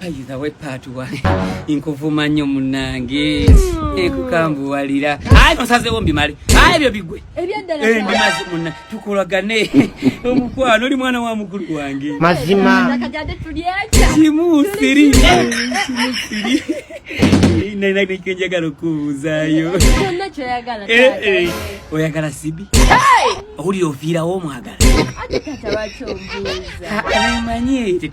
bayiza we paatuwa nkuvuma nnyo munange hmm. nkukambuwalira aye nosazewo mbimale aye ebyo bigwe eh, mbimazi muna tukolagane omukwano oli mwana wa mukulu wange mazima kimu siri naikenjagala okubuuzayo eh, eh. oyagala sibi owulira oviirawo omwagala manyi